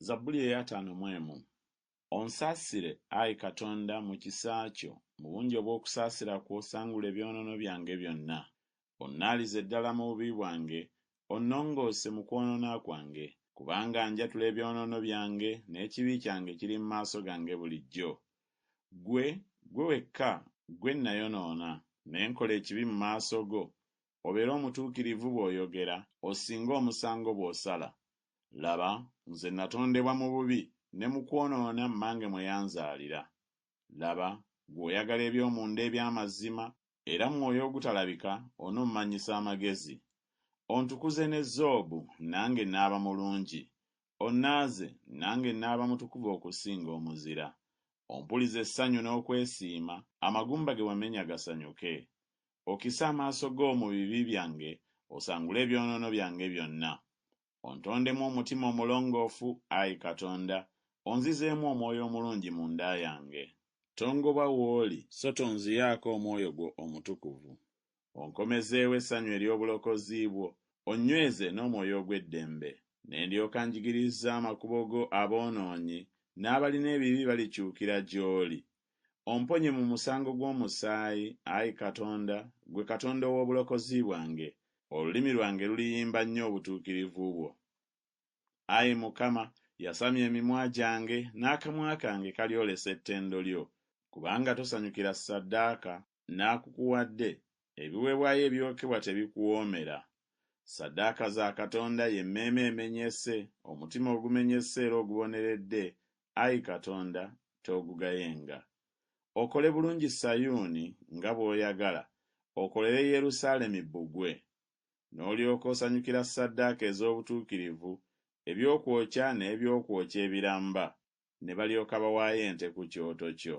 Zabbuli ey'ataano mu emu. Onsaasire, ayi Katonda, mu kisa kyo, mu bungi obw'okusaasira kwo sangula ebyonoono byange byonna. Onnaalize ddala mu bubi bwange, onnongoose mu kwonoona kwange. Kubanga njatula ebyonoono byange, n'ekibi kyange kiri mu maaso gange bulijjo. Ggwe, ggwe wekka, ggwe nnayonoona, ne nkola ekibi mu maaso go, obeera omutuukirivu bw'oyogera, osinge omusango bw'osala. Laba, nze nnatondebwa mu bubi, ne mu kwonoona mmange mwe yanzaalira. Laba, ggwe oyagala eby'omunda eby'amazima, era mu mwoyo ogutalabika onommanyisa amagezi. Ontukuze ne zoobu, nange nnaaba mulungi, onnaaze, nange nnaaba mutukuvu okusinga omuzira. Ompulize essanyu n'okwesiima, amagumba ge wamenya gasanyuke. Okise amaaso go mu bibi byange, osangule ebyonoono byange byonna. Ontondemu omutima omulongoofu, ayi Katonda, onzizeemu omwoyo omulungi munda yange. Tongoba w'oli, so tonziyaako omwoyo gwo omutukuvu. Onkomezeewo essanyu ery'obulokozi bwo, onnyweze n'omwoyo ogw'eddembe. Ne ndyoka njigiriza amakubo go aboonoonyi, n'abalina ebibi balikyukira gy'oli, Omponye mu musango gw'omusaayi, ayi Katonda, ggwe Katonda ow'obulokozi bwange, olulimi lwange luliyimba nnyo obutuukirivu bwo. Ayi Mukama, yasamya emimwa gyange, n'akamwa kange kalyolesa ettendo lyo, kubanga tosanyukira ssaddaaka. n'akukuwadde, ebiweebwayo ebyokebwa tebikuwoomera. Ssaddaaka za Katonda y'emmeeme emenyese, omutima ogumenyese era oguboneredde, Ayi Katonda, toogugayenga. Okole bulungi Sayuuni nga bw'oyagala, okolere Yerusaalemi bbugwe. N'olyoka osanyukira ssaddaaka ez'obutuukirivu, ebyokwokya n'eby'okwokya ebiramba, ne balyoka bawaayo ente ku kyoto kyo.